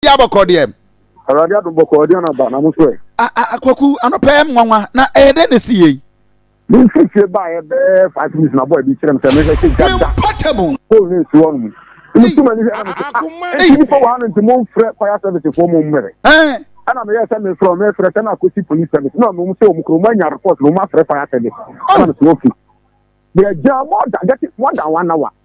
di abɔkɔ deɛ. awurade adom bɔkɔ ɔde anaba na mo so ɛ. akwaku anɔpɛ yɛ nwanwa na ɛyɛ dɛ na esi yei. ne nfifie baayɛ bɛɛ five minutes na bɔɔ ɛbi kyerɛ m sɛ mehwɛ sɛ gya da pole ne nsi hɔ nom nti ma ne hwɛ na mo sɛ ah nti nipa wɔ ha no nti mo mfrɛ fire service foɔ mo mmɛrɛ ɛna meyɛ sɛ mefrɛ ɔmo ɛfrɛ sɛ na akɔsi police service na ɔmo sɛ ɔmo kuro ɔmo anya report na ɔmo afrɛ fire service ɛna mesɛ ofi yɛ gya more than more than one hour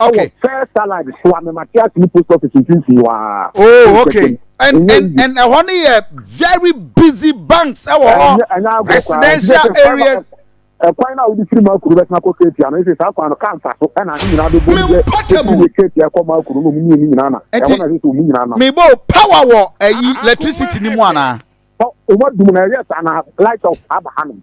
Okay. Ɛwɔ first allied so a mema te ase ne post office mfimfini waa. Oh okay. And and and ɛhɔ no yɛ very busy banks ɛwɔ hɔ residential areas. Ɛkwan na wodi firi makuru bɛtena kɔ keetia no ɛsɛ saa kwan no kaa nfa so ɛna ne nyinaa bɛbɔ mu yɛ ɛfiri keetia ɛkɔ makuru no mu mmienu nyinaa na ɛhɔ na ɛsɛ sɛ ɔmu nyinaa na. Mebo power wɔ ɛyi electricity ni mu anaa. Ɔmo adum na ɛyɛ saa na light off aba hanom.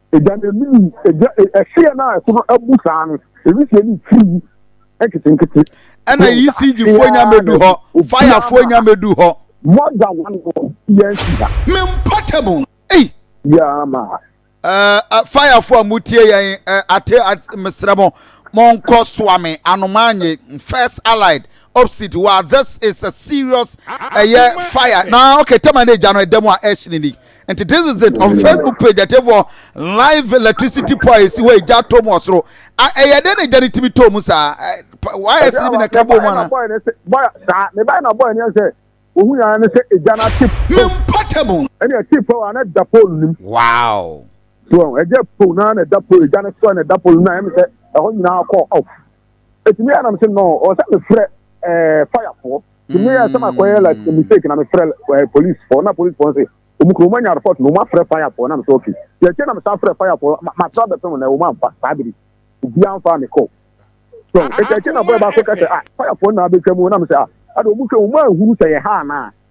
Egya no anim yi, egya, e, ɛhyeɛ no a ɛso no abu saa no, ewisie no firi mu nketenkete. Ɛna Yisigyifoɔ nya mɛdu hɔ, fayafoɔ nya mɛdu hɔ. Mɔda wɔn hɔ yɛn si ha. Me mpɔtɛbo, ei. Yaa ma. Ɛɛ fayafoɔ a mo tie yɛn ɛɛ ate ate mesrɛ mo mo nkɔ soa me anomaa nye first allied opposite wa this is a serious ɛyɛ fire na okay tɛma ne egya no ɛdɛm a ɛhyɛ ne ni nti this is it on facebook page atiefoɔ live electricity po a ɛsi hɔ egya to mu ɔsoro a ɛyɛ dɛ na egya no tumi to mu saa wayɛ sini bi na ɛka bɔ mu ana. mebae na bɔyɛ ne yɛn sɛ ohun yɛn ne sɛ egya no ate po. me mpata mu. ɛne ɛte po a na ɛda po nim. wow. so ɛgya po na na ɛda po egya no so na ɛda po nim na ɛyɛ mi sɛ ɛhɔ nyinaa kɔ off. ɛtumi yɛ anam sɛ no ɔwɔ sɛ mefrɛ ɛɛ fayafoɔ tumi yɛ sɛ makɔyɛ like mm. mistake na mefrɛ ɛɛ policefoɔ na policefoɔ sɛ wɔn kuro wɔn anya report na wɔn afrɛ fayafoɔ na mesɛ ok deɛ ɛkyɛ na mesan frɛ fayafoɔ matra bɛpem na wɔn amfa saa biri obiara mfa me kɔ so ɛkyɛ ɛkyɛ na bɔyɛ baako kɛsɛ ah fayafoɔ na abɛtwa mu na mesɛ ah ɛde wɔn hwɛ wɔn ahuru sɛ yɛ ha anaa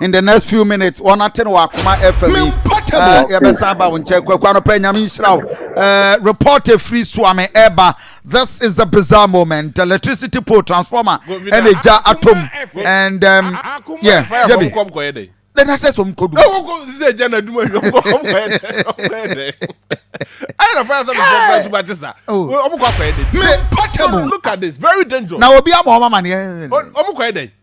in the next few minutes wɔn ate no wɔ akoma fm yi ɛɛ yɛbɛsan aba wɔn nkyɛn kwaku anɔpɛ nyame nhyira wo ɛɛ report efiri suame ɛɛba this is a bizarre moment the electricity pole transformer ɛna egya atom and um, yeah yɛbi then I said some could do. No, go say Jana do my go go go. I don't find some surprise about this. Oh, I'm going to go. Me, look at this, very dangerous. Now, Obi, I'm a man. I'm going to go.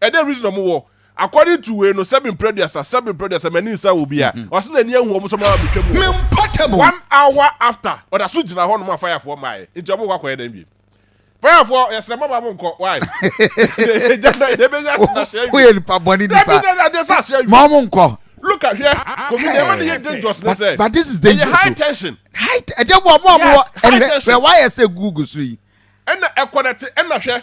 Ɛdɛ reason ɔmo wɔ according to wei no sɛbi mpere aduasa sɛbi mpere aduasa mɛ ni nsa wɔ bia ɔsi na ni ehu ɔmo sɛ ɔmo ama mi twɛ mu wɔ hɔ one hour after ɔda so gyina hɔ nom a fire foɔ maa yɛ nti ɔmo kɔ akɔ yɛ dɛn biem fire foɔ yɛ srɛ mo ɔmo nkɔ why ɛgya na ɛdɛ bɛ nya ahyɛ na hyɛ woyɛ nipa bɔ ne nipa ɛdɛ na ɛdɛ sɛ ahyɛ wi ma ɔmo nkɔ look at hwɛ kofi deɛ ɛma ne yɛ dangerous ne sɛ but this is dangerous ɛyɛ high tension high ɛdɛ wɔ ɔmo ɔmo wɔ ɛnɛ wɛ wayɛ sɛ google so yi ɛna ɛkɔ na te ɛna hwɛ.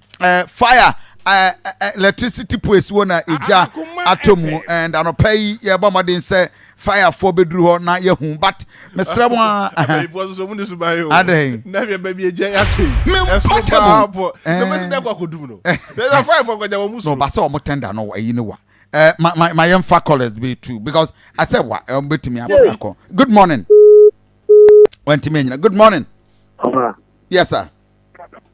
uh, fire uh, uh, electricity poes wɔ na egya atɔ mu and anɔpa yi yɛbɔ mmɔden sɛ firefoɔ bɛduru hɔ na yɛhu but mesrɛ mo adɛn mempatɛmɔba sɛ ɔmo tɛnda no ayi no wa eh, ma yɛmfa colors be too because I said what um, betumi abɛfa kɔ good morning wantumi anyina good morning yes sir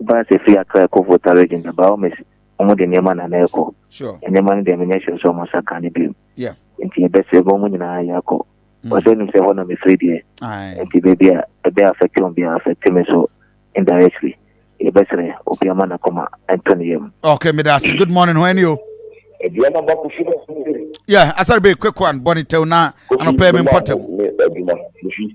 Bus firi Accra kɔ Volta Region na by all means wɔn de nneɛma na na ɛkɔ. Sure. Nneɛma no deɛ menyɛ sure sɛ wɔn nsa ka no bio. Yeah. Nti yɛbɛsrɛ bɔ wɔn nyinaa yɛ akɔ. Mm. Ɔsɛ nim sɛ hɔ na mefiri deɛ. Aye. Nti baabi a ɛbɛ affect wɔn bi a affect me so indirectly. Yɛbɛsrɛ obi ama n'akoma ɛntɔ ne yam. Okay, me that's good morning. Ho ɛni o. Aduama ba kusi na kusi bɛ. Yeah, asari bɛ quick one bɔnni tɛw na anɔpɛ mi mpɔtɛw. Adwuma kusi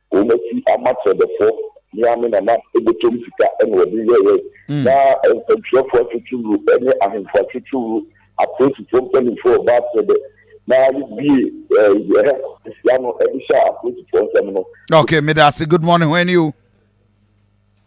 Wɔn asi ama kyerɛdɛfoɔ ne amena na botom sika na wɔde yɛeɛ, na nsɛntwerɛfoɔ atwitwuwuro ne ahemfo atwitwuwuro, apolisifoɔ mpanimfoɔ wɔ Baal-Pebɛ, na wobiee Herhor si ano de hyɛɛ apolisifoɔ nsam no. Okay, meda ase. Good morning, hwan ni o?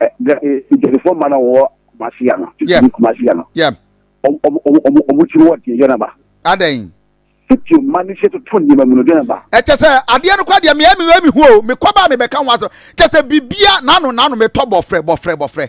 Nkurɔfoɔ mma na wɔwɔ Kumasi ano. Yɛm. Kumasi ano. Yɛm. Wɔn tiri wɔ deɛ na ba. Adɛn. Sitio mma ne hyɛ toto nneɛma mu no deɛ na ba. Ɛkyɛ sɛ adeɛ no kɔ adeɛ mmeɛ mmeɛ mehu o mekɔ baa mebɛka ho asɛm kyɛ sɛ bibia n'ano n'ano metɔ bɔfrɛ bɔfrɛ bɔfrɛ.